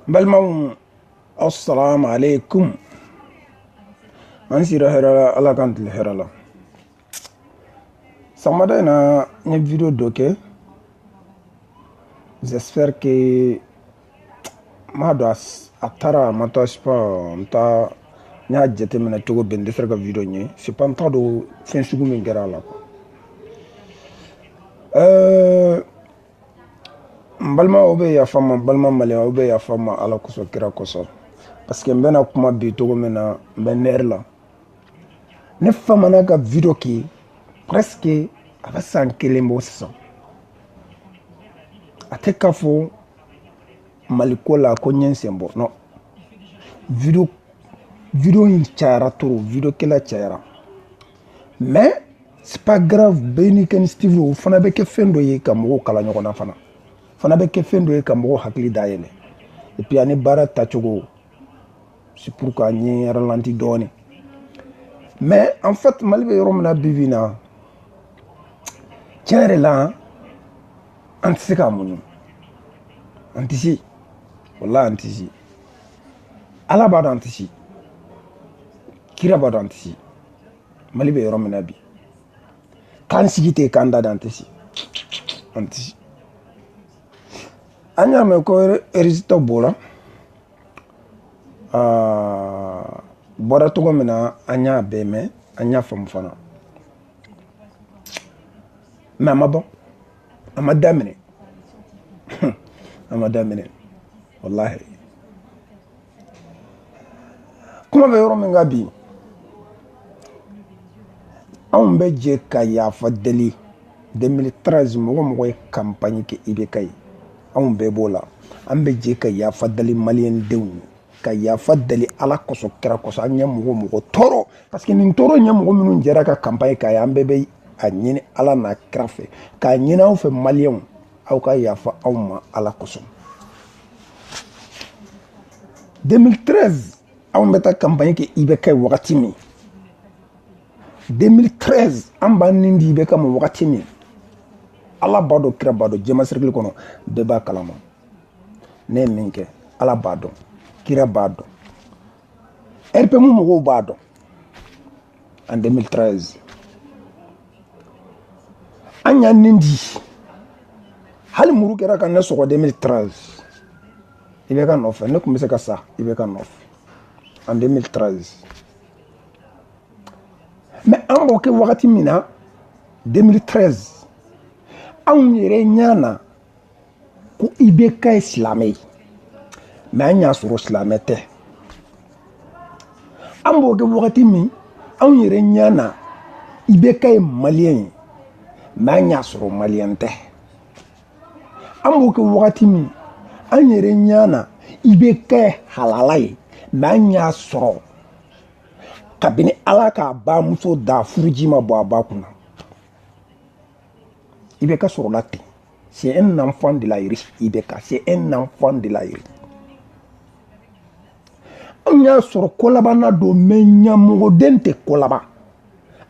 balimaw assalamu alaikum an sira hɛrɛ la ala k'an tile hɛrɛ la sɔgɔmada in na n ye video dɔ kɛ j'espère que m'a dɔn a taara a ma taa sais pas n taa n y'a jateminɛ cogo bɛn n tɛ sera ka video ɲɛ sais pas n t'a dɔn fɛn sugu min kɛra a la quoi ɛɛ n balimaw bɛ yafa n ma n balima maliyɛnw bɛ yafa n ma ala kosɔn kira kosɔn parce que n bɛna kuma bi cogo min na n bɛ nɛri la ne famana ka video kɛ presque a bɛ san kelen bɔ sisan a tɛ k'a fɔ mali ko la ko n ye n sen bɔ non video video in cayara trop video kɛla cayara mais c'est pas grave bɛɛ n'i ka initiative o fana bɛ kɛ fɛn dɔ ye ka mɔgɔw kala ɲɔgɔn na fana fana bɛ kɛ fɛn dɔ ye ka mɔgɔw hakili dayɛlɛ et puis ani baara tacogo c'est pourquoi n ye ralanti dɔɔni mais en fait mali bɛ yɔrɔ min na bi bi in na tiɲɛ yɛrɛ la an tɛ se k'a muɲu an tɛ se walahi an tɛ se ala b'a dɔn an tɛ se kira b'a dɔn an tɛ se mali bɛ yɔrɔ min na bi k'an sigi ten k'an da da an tɛ se an tɛ se an y'a mɛn ko résultat bɔra bɔra cogo min na an y'a bɛɛ mɛn an y'a faamu fana mais a ma ban a ma daminɛ a ma daminɛ walahi kuma bɛ yɔrɔ min kan bi anw bɛ jɛ ka yafa deli 2013 mɔgɔ o mɔgɔ ye kanpaɲi kɛ IBK ye anw bɛɛ b'o la an bɛ jɛ ka yafa deli maliyɛn denw ye ka yafa deli ala kosɔn kira kosɔn an ye mɔgɔ o mɔgɔ tɔɔrɔ parce que nin tɔɔrɔ ɲɛ mɔgɔ minnu jɛra ka kanpaɲi k'a ye an bɛɛ bɛ a ɲini ala n'a kira fɛ k'a ɲini aw fɛ maliyɛnw aw ka yafa an ma ala kosɔn 2013 anw bɛ taa kanpaɲi kɛ IBK ye wagati min 2013 an b'an ni di IBK ma wagati min ala b'a dɔn kira b'a dɔn jɛma sɛrikili kɔnɔ bɛɛ b'a kalama ne ye min kɛ ala b'a dɔn kira b'a dɔn rpm mɔgɔw b'a dɔn en 2013 an y'an nin di hali muru kɛra ka ne sɔgɔ 2013 ibk nɔfɛ ne tun bɛ se ka sa ibk nɔfɛ en 2013 mais an b'o kɛ wagati min na 2013 anw yɛrɛ ɲɛ na ko ibk ye silamɛ ye mais an y'a sɔrɔ silamɛ tɛ an b'o kɛ wagati min anw yɛrɛ ɲɛ na ibk ye maliyɛn ye mais an y'a sɔrɔ maliyɛn tɛ an b'o kɛ wagati min an yɛrɛ ɲɛ na ibk ye halala ye mais an y'a sɔrɔ kabini ala k'a bamuso da furuji ma bɔ a ba kunna ibk sɔrɔla ten c'est un enfant de la rue ibk c'est un enfant de la rue anw y'a sɔrɔ kolabanna don mais ɲamɔgɔden tɛ ko laban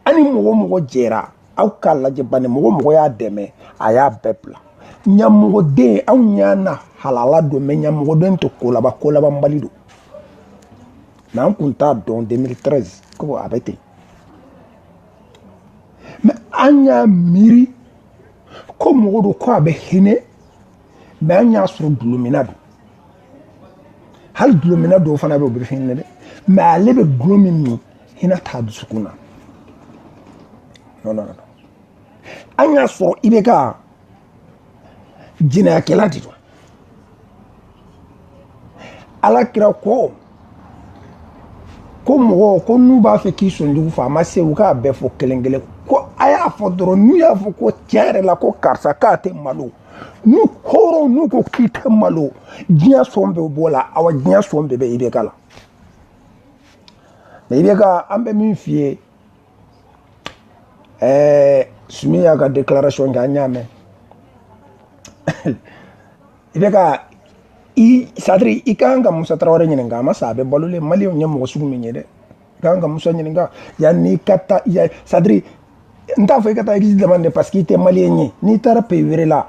a ni mɔgɔ o mɔgɔ jɛra aw k'a lajɛ bani mɔgɔ o mɔgɔ y'a dɛmɛ a y'a bɛɛ bila ɲamɔgɔden anw ɲɛ na halala don mais ɲamɔgɔden tɛ ko laban kolabanbali don mais an kun t'a dɔn 2013 ko a bɛ ten mais an y'a miiri ko mɔgɔ don ko a bɛ hinɛ mais an y'a sɔrɔ dulomina don hali dulomina dɔw fana bɛ o bɛ hinɛ dɛ mais ale bɛ dulo min min hinɛ t'a dusukun na an y'a sɔrɔ ibk jɛnɛyakɛla de don ala kira ko ko mɔgɔ ko n'u b'a fɛ k'i sonjugu fɔ a ma se u k'a bɛɛ fɔ kelen kelen ko a y'a fɔ dɔrɔn n'u y'a fɔ ko tiɲɛ yɛrɛ la ko karisa k'a tɛ malo n'o kɔrɔ n'u ko k'i tɛ malo diɲɛ sɔn bɛɛ b'o la awa diɲɛ sɔn bɛɛ bɛ ibk la mais ibk an bɛ min f'i ye ɛɛ sumi y'a ka déclaration kɛ an y'a mɛn ibk c'est-à-dire i ka kan ka musa tarawele ɲininka a ma sa a bɛ balolen maliyɛnw ye mɔgɔ sugu min ye dɛ i ka kan ka musa ɲininka yanni i ka taa c'est-à-dire n t'a fɔ i ka taa exil demander dɛ parce que i tɛ maliyɛn ye n'i taara pays wɛrɛ la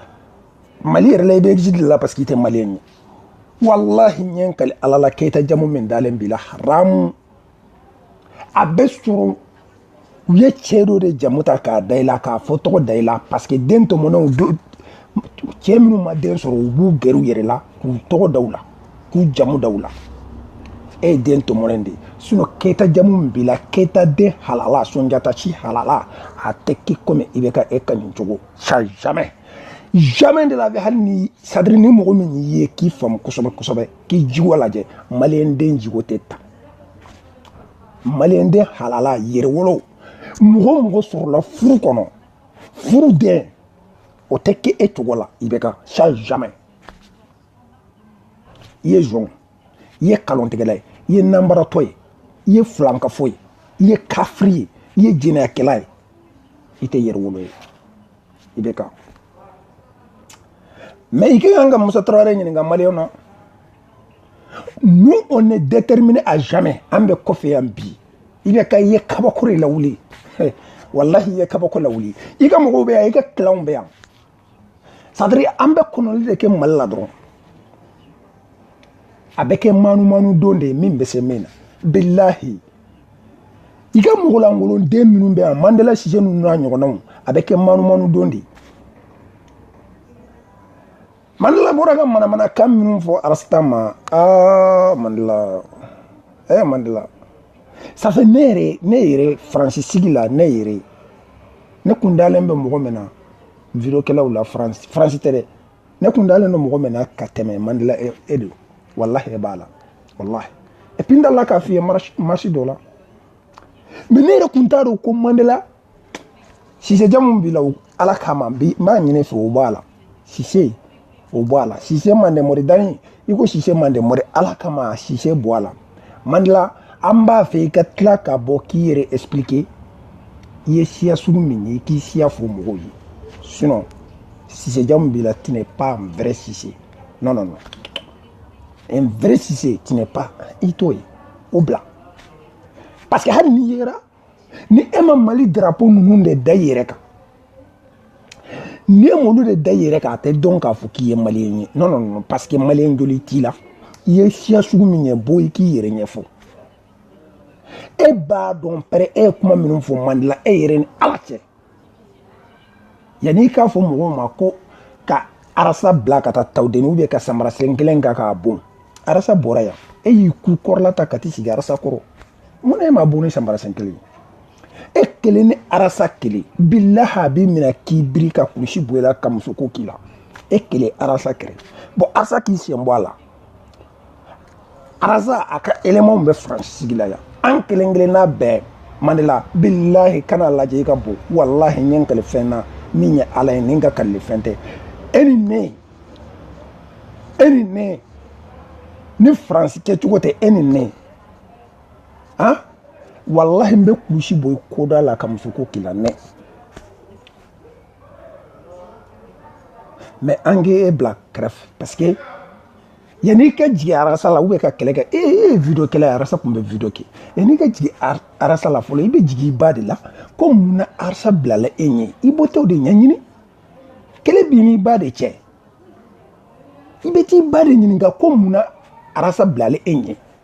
mali yɛrɛ la i bɛ exil de la parce que i tɛ maliyɛn ye walahi n bɛ kali ala la keyita jamu min dalen b'i la haramu a bɛ sɔrɔ u ye cɛ dɔ de jamu ta k'a da i la k'a fa tɔgɔ da i la parce que den tɔmɔnenw cɛ minnu ma den sɔrɔ u b'u gɛrɛ u yɛrɛ la k'u tɔgɔ da u la k'u jamu da u la e ye den tɔmɔlen de ye sinon keyita jamu min b'i la keyita den halala sonjata si halala a tɛ k'i komi IBK e ka nin cogo ça jamais jamais de la vie hali ni c'est-à-dire ni mɔgɔ min y'i ye k'i faamu kosɛbɛ kosɛbɛ k'i jogo lajɛ maliyɛn den jogo tɛ ta maliyɛn den halala yɛrɛwolo mɔgɔ mɔgɔ sɔrɔla furu kɔnɔ furu den o tɛ kɛ e cogo la IBK ça jamais i ye zon i ye kalontigɛla ye i ye nanbaratɔ ye i ye filankafo ye i ye kafiri ye i ye jɛnɛyakɛla ye i tɛ yɛrɛwolo ye IBK mais i ka kan ka musa tarawele ɲininka maliyɛn na nous on est déterminé à jamais an b'i kɔfɛ yan bi IBK i ye kabako de lawuli walahi i ye kabako lawuli i ka mɔgɔw bɛ yan i ka kilanw bɛ yan c'est-à-dire an bɛ kɔnɔli de kɛ mali la dɔrɔn a bɛ kɛ manamana don de ye min bɛ se min na bilahi i ka mɔgɔlankolon den minnu bɛ yan mandela sise ninnu n'a ɲɔgɔnnaw a bɛ kɛ manamana don de ye Mandela bɔra ka manamana kan minnu fɔ arasita ma aa Mandela eh Mandela ça c'est ne yɛrɛ ne yɛrɛ faransi sigi la ne yɛrɛ ne kun dalen bɛ mɔgɔ min na vidéokɛlaw la faransi faransi tɛ dɛ ne kun dalen don mɔgɔ min na ka tɛmɛ Mandela e don walahi e b'a la walahi et puis n delila k'a f'i ye marche dɔ la mais ne yɛrɛ kun t'a dɔn ko Mandela sise jamu b'i la ala kama n b'a ɲini i fɛ o bɔ a la sise o bɔ a la sise mande mɔri don n'i ko sise mande mɔri ala kama sise bɔ a la Mandela an b'a fɛ i ka tila ka bɔ k'i yɛrɛ expliquer i ye siya sugu min ye k'i siya fɔ mɔgɔw ye sinon sise jamu b'i la tu n'es pas un vrai sise non non non un vrai sise tu n'es pas i t'o ye o bila parce que hali n'i yera ni e ma mali drapo ninnu de da i yɛrɛ kan ni e m'olu de da i yɛrɛ kan a tɛ dɔn k'a fɔ k'i ye maliyɛn ye non non non parce que maliyɛn joli t'i la i ye siya sugu min ye bɔ i k'i yɛrɛ ɲɛfɔ e b'a dɔn pɛrɛ e ye kuma minnu fɔ Mandela e yɛrɛ ni ala cɛ yanni i k'a fɔ mɔgɔw ma ko ka arasa bila ka taa tawudeni ou bien ka samara sen kelen kɛ k'a bon arasa bɔra yan e y'i ku kɔrɔla ta ka t'i sigi arasa kɔrɔ mun na e ma buguni sanbara sen kelen e kelen ni arasa kelen bilahi a b'i minɛ k'i biri ka kulusi bɔ i la ka musoko k'i la e kelen arasa kɛrɛ bɔn arasa k'i sen bɔ a la arasa a ka elemanw bɛ faransi sigi la yan an kelen kelen n'a bɛɛ mandela bilahi kana lajɛ i ka bon walahi n ye n kali fɛn na min ye ala ye ni n ka kalilen fɛn tɛ e ni ne e ni ne ni faransi kɛcogo tɛ e ni ne han walahi n bɛ kulusi bɔ i koda la ka musoko k'i la nɛ mɛ an k'o bila kɛrɛfɛ parce que yanni i ka jigin arasa la ou bien ka kɛlɛ kɛ e ye video kɛlɛ arasa tun bɛ video kɛ yanni i ka jigin arasa la fɔlɔ i bɛ jigin i ba de la ko mun na arasa bilala e ɲɛ i bɛ t'o de ɲɛɲini kɛlɛ b'i n'i ba de cɛ i bɛ t'i ba de ɲininka ko mun na arasa bilala e ɲɛ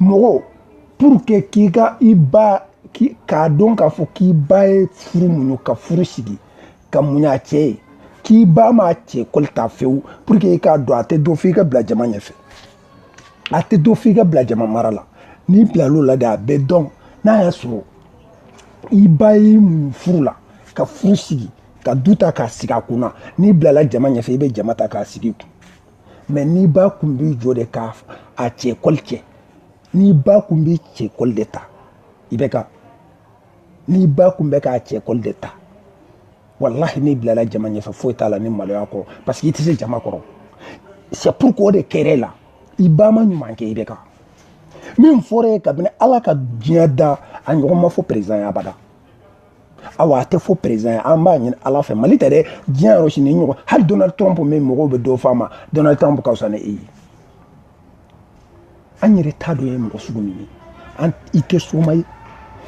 mɔgɔ pour que k'i ka i ba k'a dɔn k'a fɔ k'i ba ye furu muɲu ka furu sigi ka muɲu a cɛ ye k'i ba m'a cɛ kɔli ta fewu pour que i k'a dɔn a tɛ dɔn f'i ka bila jama ɲɛfɛ a tɛ dɔn f'i ka bila jama mara la n'i bilal'o la de a bɛ dɔn n'a y'a sɔrɔ i ba y'i muɲu furu la ka furu sigi ka du ta k'a sigi a kunna n'i bilala jama ɲɛfɛ i bɛ jama ta k'a sigi i kun mais n'i ba kun b'i jɔ de k'a cɛ kɔli cɛ n'i ba kun b'i cɛ kɔli de ta i bɛ ka n'i ba kun bɛ k'a cɛ kɔli de ta walahi n'i bilala jama ɲɛfɛ foyi t'a la ni maloya kɔ parce que i tɛ se jama kɔrɔ c'est pour que o de kɛr'e la i ba ma ɲuman kɛ i bɛ kan min fɔr'e ye kabini ala ka diɲɛ da a ɲɔgɔn ma fɔ perezidan ye abada awa a tɛ fɔ perezidan ye an b'a ɲini ala fɛ mali tɛ dɛ diɲɛ yɔrɔ si nin ɲɔgɔn hali donald trump min mɔgɔw bɛ dɔ fɔ a ma donald trump ka fisa ni e ye an yɛrɛ t'a dɔn e ye mɔgɔ sugu min ye an i tɛ soma ye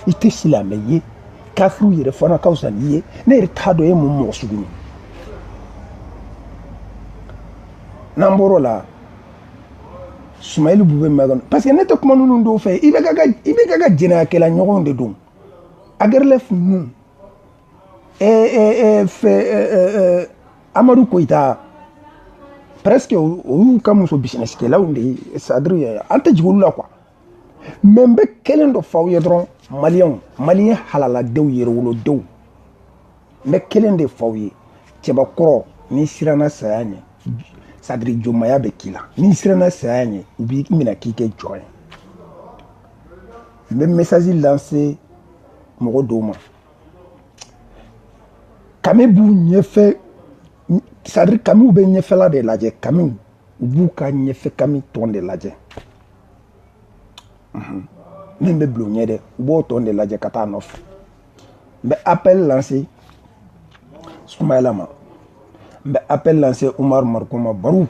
i tɛ silamɛ ye kafiriw yɛrɛ fana ka fisa n'i ye ne yɛrɛ t'a dɔn e ye mun mɔgɔ sugu ye n'an bɔr'o la sumeyilu bubɛyi mɛn parce que ne tɛ kuma ninnu dɔw fɛ i bɛ ka i bɛ ka ka jɛnɛyakɛla ɲɔgɔnw de don Aguerlef ninnu fɛ amadu koyita presque o y'u ka muso bisinesikɛlaw de ye c'est-à-dire an tɛ jigin olu la quoi mais n bɛ kelen dɔ f'aw ye dɔrɔn maliyɛnw maliyɛn halaladenw yɛrɛwolodenw n bɛ kelen de f'aw ye cɛbakɔrɔ n'i siranna saya ɲɛ c'est-à-dire jɔnmaya bɛ k'i la n'i siranna saya ɲɛ u b'i minɛ k'i kɛ jɔn ye n bɛ message lancer mɔgɔ dɔw ma kami b'u ɲɛfɛ c'est à dire kamiw bɛ ɲɛfɛla de lajɛ kamiw u b'u ka ɲɛfɛ kami tɔn de lajɛ min bɛ bila u ɲɛ dɛ u b'o tɔn de lajɛ ka taa nɔfɛ n bɛ appel lancer Soumaïla ma n bɛ appel lancer Oumar Mariko ma Barou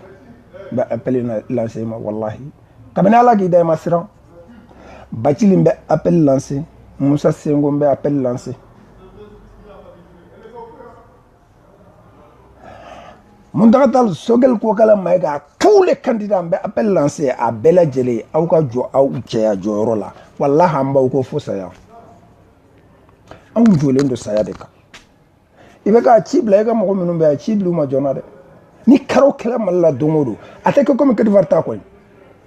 n bɛ appel lancer i ma walahi kabini Ala k'i da i ma siran Bathily n bɛ appel lancer Moussa Sinko n bɛ appel lancer Mountaga Tall Choguel Kokalla Maïga tous les candidats n bɛ appel lancer a bɛɛ lajɛlen aw ka jɔ aw cɛya jɔyɔrɔ la walahi an b'aw kɔ fo saya anw jɔlen don saya de kan IBK ci bila i ka mɔgɔ minnu bɛ yan ci bila u ma joona dɛ ni karo kɛla mali la don o don a tɛ kɛ komi kɔdiwari ta kɔni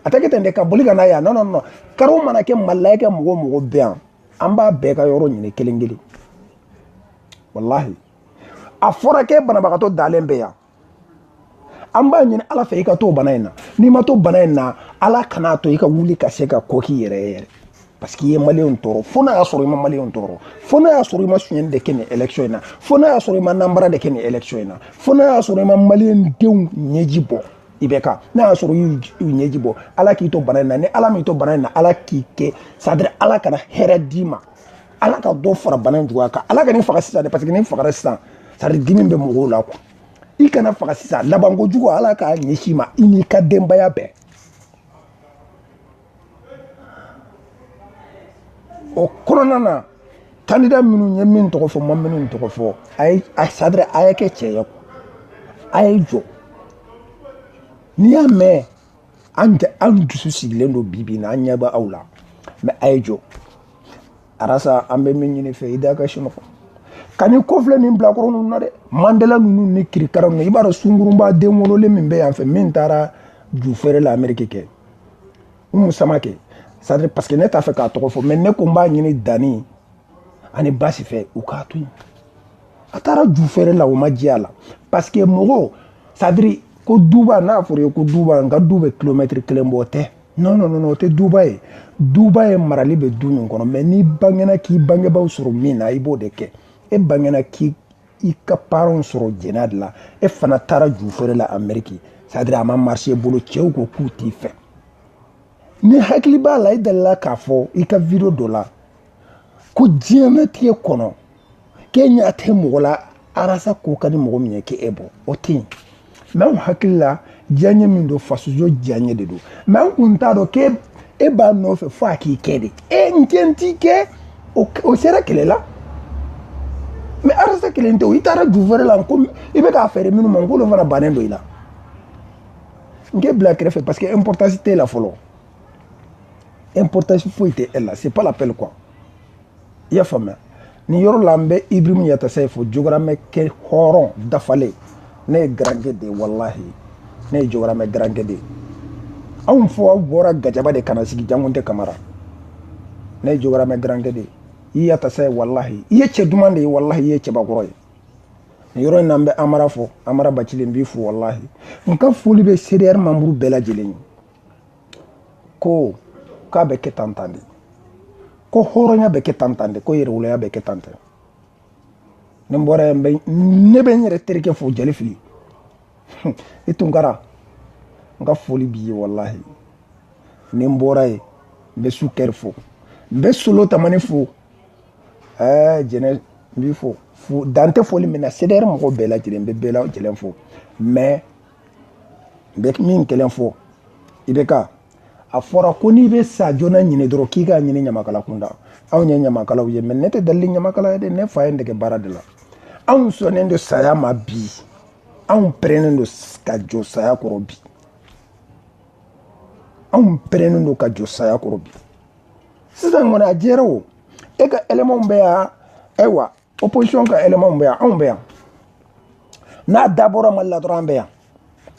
a tɛ kɛ ten dɛ ka boli ka na yan non non non karo mana kɛ mali la i ka mɔgɔ o mɔgɔ bɛ yan an b'a bɛɛ ka yɔrɔ ɲini kelen kelen walahi a fɔra k'e banabagatɔ dalen bɛ yan an b'a ɲini ala fɛ i ka to bana in na n'i ma to bana in na ala kan'a to i ka wuli ka se ka ko k'i yɛrɛ ye yɛrɛ parce que i ye maliyɛnw tɔɔrɔ fo n'a y'a sɔrɔ i ma maliyɛnw tɔɔrɔ fo n'a y'a sɔrɔ i ma suɲɛni de kɛ nin élection in na fo n'a y'a sɔrɔ i ma nanbara de kɛ nin élection in na fo n'a y'a sɔrɔ i ma maliyɛn denw ɲɛji bɔ IBK n'a y'a sɔrɔ i y'u ɲɛji bɔ ala k'i to bana in na ni ala m'i to bana in na ala k'i kɛ c'est à dire ala kana hɛrɛ d'i ma ala ka dɔ fara bana in juguya kan ala kan'i faga sisan dɛ parce que n'i fagara sisan c'est à dire dimi bɛ mɔgɔw la quoi i kana faga sisan labanko jugu ala k'a ɲɛsin i ma i n'i ka denbaya bɛɛ o kɔnɔna na kandida minnu n ye min tɔgɔ fɔ n ma minnu tɔgɔ fɔ a ye a c'est à dire a ye kɛ cɛ ye quoi a ye jɔ n'i y'a mɛn an tɛ an dusu sigilen don bi bi na an ɲɛ bɛ aw la mais a ye jɔ Ras an bɛ min ɲini i fɛ i da ka sini fɔ ka ni ko filɛ nin bilakoro ninnu na dɛ mandela ninnu ni kirikara ninnu i b'a dɔn sungurunba den wololen min bɛ yan fɛ min taara ju feere la ameriki kɛ Oumou Samaké c'est à dire parce que ne t'a fɛ k'a tɔgɔ fɔ mais ne ko n b'a ɲini danni ani basi fɛ u k'a to yen a taara ju feere la o ma jɛya la parce que mɔgɔw c'est à dire ko duba n'a fɔra i ye ko duba n ka du bɛ kilomɛtiri kelen bɔ tɛ non non non o tɛ duba ye duba ye marali bɛ du min kɔnɔ mais n'i bangena k'i bangebaaw sɔrɔ min na i b'o de kɛ e bangena k'i i ka paranw sɔrɔ jɛnɛya de la e fana taara ju feere la ameriki c'est à dire a ma marcher i bolo cɛw ko k'u t'i fɛ n'i hakili b'a la i delila k'a fɔ i ka video dɔ la ko diɲɛnatigɛ kɔnɔ k'e ɲɛ a tɛ mɔgɔ la arasa ko ka di mɔgɔ min ye k'e bɔ o tɛ yen mɛ anw hakili la diyaɲɛ min don faso diyaɲɛ de don mɛ an kun t'a dɔn k'e e b'a nɔfɛ fo a k'i kɛ de e n kɛ n t'i kɛ o sera kɛlɛ la mɛ arasa kelen tɛ o i taara ju wɛrɛ la ko i bɛ k'a fɛɛrɛ minnu ma n k'olu fana bannen don i la n k'e bila kɛrɛfɛ parce que importance t'e la fɔlɔ importance foyi tɛ e la c'est pas la peine quoi i y'a faamuya nin yɔrɔ la n bɛ ibrahim yatasaye fo jogoramɛkɛ hɔrɔn dafalen ne ye garanke de ye walahi ne ye jogoramɛ garanke de ye anw faw bɔra gajaba de ka na sigi jangunte kamara ne ye jogoramɛ garanke de ye i yatasaye walahi i ye cɛ duman de ye walahi i ye cɛbakɔrɔ ye nin yɔrɔ in na n bɛ amara fo amara bacili n b'i fo walahi n ka foli bɛ cdr membre bɛɛ lajɛlen ye ko k'a bɛ kɛ tan tan de ko hɔrɔnya bɛ kɛ tan tan de ko yɛrɛwoloya bɛ kɛ tan tan ni n bɔra yan ne bɛ n yɛrɛ terikɛ fo jali fili i tunkara n ka foli b'i ye walahi ni n bɔra yen n bɛ sukɛri fo n bɛ solo tamani fo ɛɛ jɛnɛ n b'i fo fo dan tɛ foli min na cdr mɔgɔ bɛɛ lajɛlen n bɛ bɛɛ lajɛlen fo mɛ n bɛ min kelen fɔ ibk a fɔra ko n'i bɛ sa joona ɲini dɔrɔn k'i k'a ɲini ɲamakala kunda anw ye ɲamakalaw ye mɛ ne tɛ delili ɲamakala ye dɛ ne fa ye n dege baara de la anw sɔnnen don saya ma bi anw pɛrɛnnen don ka jɔ saya kɔrɔ bi anw pɛrɛnnen don ka jɔ saya kɔrɔ bi sisan kɔni a jɛra o e ka ɛlɛmanw bɛ yan ayiwa opposition ka élément bɛ yan anw bɛ yan n'a dabɔra mali la dɔrɔn an bɛ yan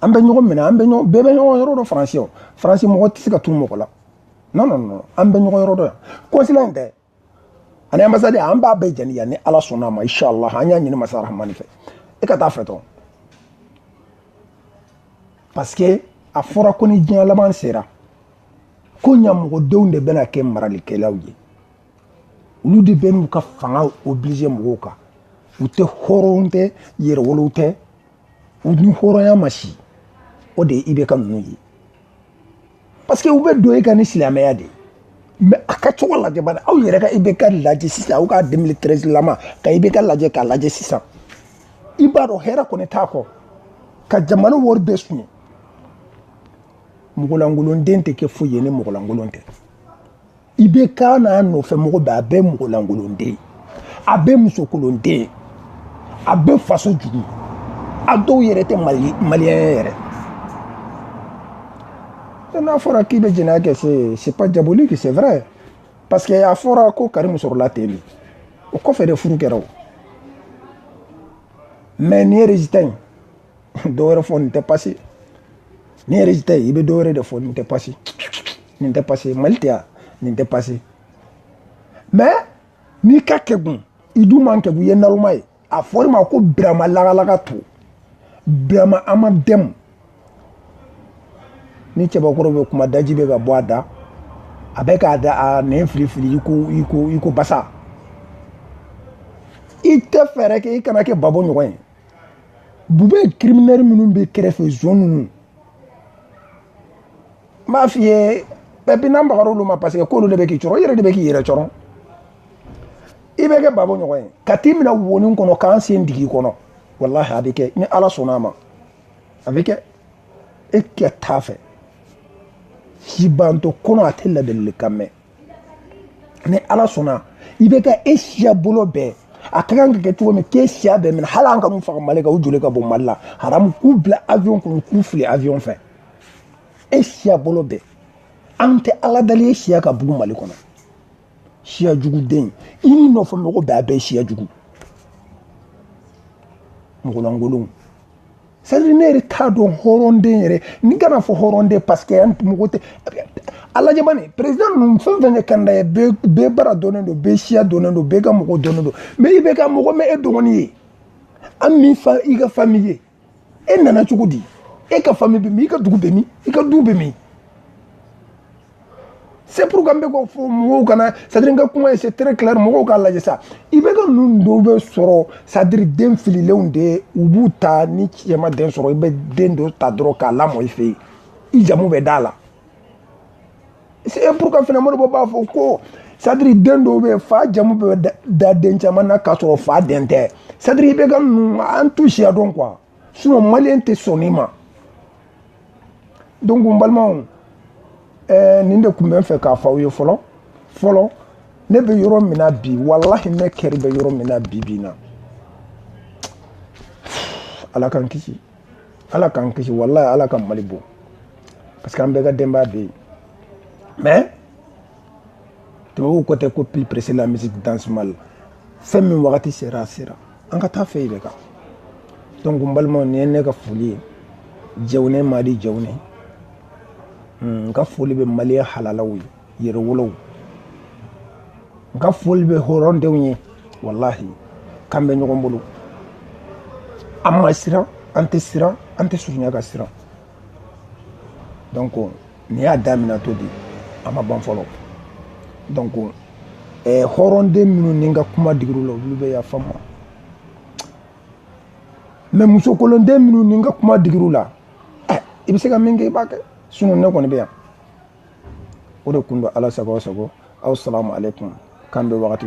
an bɛ ɲɔgɔn minɛ an bɛ ɲɔgɔn bɛɛ bɛ ɲɔgɔn yɔrɔ dɔn faransi o faransi mɔgɔ tɛ se ka tunun mɔgɔ la non non non an bɛ ɲɔgɔn yɔrɔ dɔn yan kɔnsila in tɛ ani ambasade an b'a bɛɛ jeni yan ni ala sɔnna ma inshallah an y'a ɲini masa rahamani fɛ e ka taa fɛ dɔrɔn parce que a fɔra ko ni diɲɛ laban sera ko ɲamɔgɔdenw de bɛna kɛ maralikɛlaw ye olu de bɛn'u ka fanga oblige mɔgɔw kan u tɛ hɔrɔn tɛ yɛrɛwolow tɛ u ni hɔrɔnya ma si o de ye ibk ninnu ye parce que u bɛ don e kan ni silamɛya de ye mɛ a ka cogo lajɛ bani aw yɛrɛ ka ibk lajɛ sisan aw ka 2013 lama ka ibk lajɛ k'a lajɛ sisan i b'a dɔn hɛrɛ kɔni t'a kɔ ka jamana wari bɛɛ suɲɛ mɔgɔlankolonden tɛ kɛ foyi ye ni mɔgɔlankolon tɛ ibk n'a nɔfɛ mɔgɔ bɛɛ a bɛɛ mɔgɔlankolonden a bɛɛ musokolonden a bɛɛ faso jugu a dɔw yɛrɛ tɛ mali maliyɛn yɛrɛ n'a fɔra k'i bɛ jɛnɛya kɛ se c'est pas diabolique c'est vrai parce que a fɔra ko karimu sɔrɔla ten de o kɔfɛ de furu kɛra o mais nin ye résultat ye dɔ wɛrɛ fɔ nin tɛ pasi ni yɛrɛ tɛ i bɛ dɔ wɛrɛ de fɔ nin tɛ pasi nin tɛ pasi mali tɛ yan nin tɛ pasi mais n'i ka kɛgun i dun man kɛgun i ye naloma ye a fɔr'i ma ko birama lagalaga to birama an ma dɛmu ni cɛbakɔrɔ bɛ kuma daji bɛ ka bɔ a da a bɛ k'a da a nɛn filifili i ko i ko i ko basa i tɛ fɛɛrɛ kɛ i kana kɛ gbagbo ɲɔgɔn ye boubèye criminel minnu bɛ kɛrɛfɛ zon ninnu n b'a f'i ye bɛɛ bi n'an bagar'olu olu ma parce que k'olu de bɛ k'i cɔrɔ i yɛrɛ de bɛ k'i yɛrɛ cɔrɔ i bɛ kɛ gbagbo ɲɔgɔn ye ka t'i minɛ wonin kɔnɔ k'an sen dig'i kɔnɔ walahi a bɛ kɛ ni ala sɔnna a ma a bɛ kɛ e kɛ t'a fɛ si bantɔ kɔnɔ a tɛ ladilikan mɛn ni ala sɔnna ibk e siya bolo bɛɛ a ka kan ka kɛ cogo min k'e siya bɛɛ minɛ hali an kan'u faga mali kan u joli ka bɔ mali la haramu k'u bila avion kɔnɔ k'u fili avion fɛ e siya bolo bɛɛ an tɛ ala dali e siya ka bugu mali kɔnɔ siya juguden i n'i nɔfɛ mɔgɔ bɛɛ a bɛɛ siya jugu mɔgɔlankolonw c'est à dire ne yɛrɛ t'a dɔn hɔrɔnden yɛrɛ ne kan'a fɔ hɔrɔnden parce que an mɔgɔ tɛ a lajɛ bani président ninnu fɛn fɛn ye candidat ye bɛɛ baara dɔnnen don bɛɛ siya dɔnnen don bɛɛ ka mɔgɔ dɔnnen don mais ibk mɔgɔ ma e dɔgɔnin ye an ma i ka fami ye e nana cogo di e ka fami bɛ min i ka dugu bɛ min i ka du bɛ min c'est pourquoi n bɛ k'o fɔ mɔgɔw kana c'est à dire n ka kuma ye c'est très clair mɔgɔw k'a lajɛ sa ibk ninnu dɔw bɛ sɔrɔ c'est à dire den fililenw de u b'u ta ni cɛ ma den sɔrɔ i bɛ den dɔ ta dɔrɔn k'a lamɔ i fɛ yen i jamu bɛ d'a la c'est pourquoi fana mɔgɔ dɔw b'a fɔ ko c'est à dire den dɔw bɛ yen fa jamu bɛ da den caman na k'a sɔrɔ fa den tɛ c'est à dire ibk ninnu an t'u siya dɔn quoi sinon maliyɛn tɛ sɔn nin ma donc n balimaw ɛɛ nin de tun bɛ n fɛ k'a fɔ aw ye fɔlɔ fɔlɔ ne bɛ yɔrɔ min na bi walahi ne cœur bɛ yɔrɔ min na bi bi na ala k'an kisi ala k'an kisi walahi ala ka mali bon parce que an bɛɛ ka denbaya bɛ yen mais tubabuw ko tɛ ko plus pressé la musique danse mal fɛn min wagati sera a sera an ka taa fɛ de kan donc n balimaw nin ye ne ka foli ye jɛwune madi jɛwune n ka foli bɛ maliyɛn halalaw ye yɛrɛwolow n ka foli bɛ hɔrɔndenw ye walahi k'an bɛ ɲɔgɔn bolo an ma siran an tɛ siran an tɛ surunya ka siran donc nin y'a daminɛtɔ di a ma ban fɔlɔ donc eh, hɔrɔnden minnu ni n ka kuma digir'u la olu bɛ yafa n ma mais musokolonden minnu ni n ka kuma digir'u la eh, i bɛ se ka min kɛ i b'a kɛ sinɔn ne kɔni bɛ yan o de kun don ala sago aw sago aw salamu aleykum k'an bɛn wagati